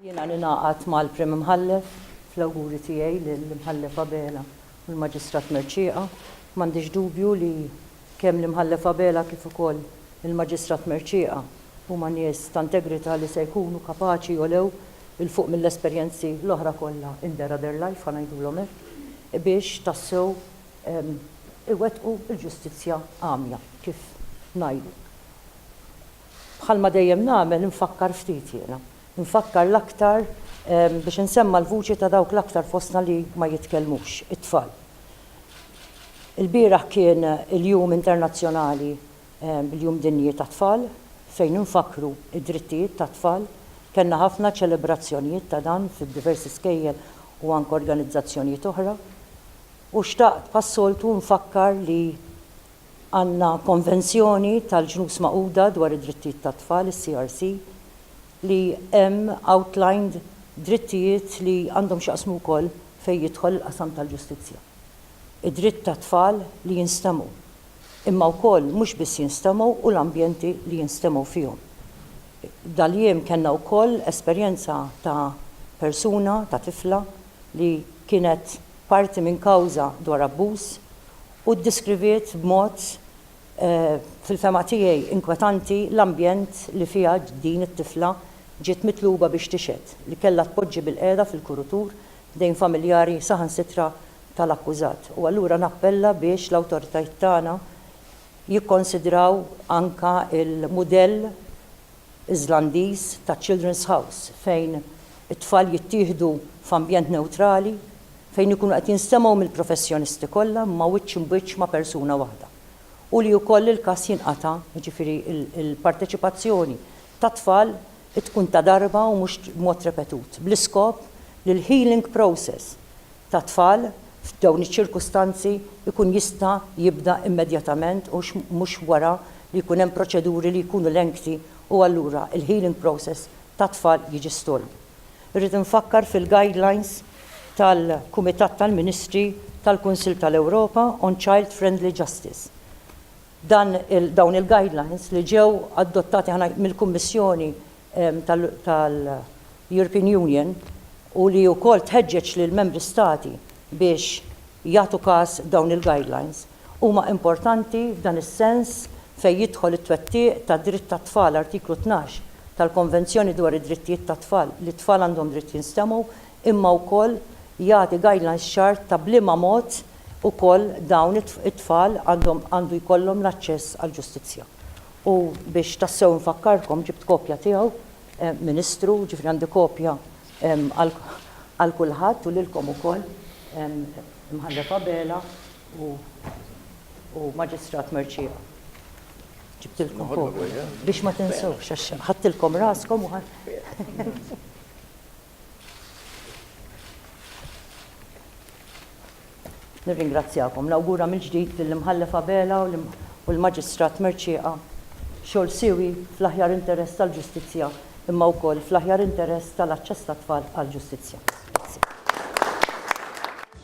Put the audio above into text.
Jiena ningħaqad mal-Prim Imħallef fl-awguri tiegħi lill-Imħallef Abela u l-Maġistrat Mercieqa. M'għandix dubju li kemm l-Imħallef Abela kif ukoll il-Maġistrat Mercieqa huma nies ta' integrità li se jkunu kapaċi jogħlew 'il fuq mill-esperjenzi l-oħra kollha in their other life, ħa ngħidulhom hekk, biex tassew iwettqu l-ġustizzja għamja, kif ngħidu. Bħalma dejjem nagħmel infakkar ftit jiena. Infakkar l-aktar biex insemma' l-vuċi ta' dawk l-aktar fostna li ma jitkellmux, it-tfal. Ilbieraħ kien il-Jum Internazzjonali, il-Jum Dinji tat-Tfal, fejn infakkru d-drittijiet tat-tfal. Kellna ħafna ċelebrazzjonijiet ta' dan fid-diversi skejjel u anke organizzazzjonijiet oħra. U xtaqt bħas-soltu nfakkar li għandna Konvenzjoni tal-Ġnus Magħquda dwar id-Drittijiet tat-Tfal, is-CRC, li hemm outlined drittijiet li għandhom x'jaqsmu wkoll fejn jidħol il-qasam tal-ġustizzja. Id-dritt tat-tfal li jinstemgħu, imma wkoll mhux biss jinstemgħu u l-ambjenti li jinstemgħu fihom. Dal-jiem kellna wkoll esperjenza ta' persuna, ta' tifla li kienet parti minn kawża dwar abbuż u ddeskriviet b'mod, fil-fehma tiegħi, inkwetanti l-ambjent li fiha din it-tifla ġiet mitluba biex tixhed, li kellha tpoġġi bilqiegħda fil-kurutur f'dejn familjari saħansitra tal-akkużat u allura nappella biex l-awtoritajiet tagħna jikkonsidraw anke l-mudell Iżlandiż ta' Children's House fejn it-tfal jittieħdu f'ambjent newtrali fejn ikunu qed jinstemgħu mill-professjonisti kollha imma wiċċ imbiċċ ma' persuna waħda u li wkoll il-każ jinqata', jiġifieri l-parteċipazzjoni tat-tfal tkun ta' darba u mhux b'mod repetut bl-iskop li l-healing process tat-tfal f'dawn iċ-ċirkustanzi jkun jista' jibda immedjatament u mhux wara li jkun hemm proċeduri li jkunu lengthy u allura l-healing process tat-tfal jiġi stalled. Irrid infakkar fil-guidelines tal-Kumitat tal-Ministri tal-Kunsill tal-Ewropa on Child Friendly Justice. Dawn il-guidelines li ġew adottati mill-Kummissjoni tal-European Union u li wkoll tħeġġeġ lill-Membri Stati biex jagħtu każ dawn il-guidelines, huma importanti f'dan is-sens fejn jidħol it-twettiq tad-dritt tat-tfal, Artiklu tnax, tal-Konvenzjoni dwar id-Drittijiet tat-Tfal, li t-tfal għandhom dritt jinstemgħu, imma wkoll jagħti guidelines ċar ta' b'liema mod ukoll dawn it-tfal għandhom għandu jkollhom l-aċċess għall-ġustizzja. U biex tassew infakkarkom, ġibt kopja tiegħu, Ministru, jiġifieri għandi kopja għal kulħadd u lilkom ukoll, Imħallef Abela u Maġistrat Mercieca. Ġibtilkom kopja biex ma tinsewhx għax ħadtilkom raskom u. Nirringrazzjakom. Nawgura mill-ġdid lill-Imħallef Abela u l-Maġistrat Mercieqa xogħol siewi fl-aħjar interess tal-ġustizzja imma wkoll fl-aħjar interess tal-aċċess tat-tfal għall-ġustizzja. Grazzi.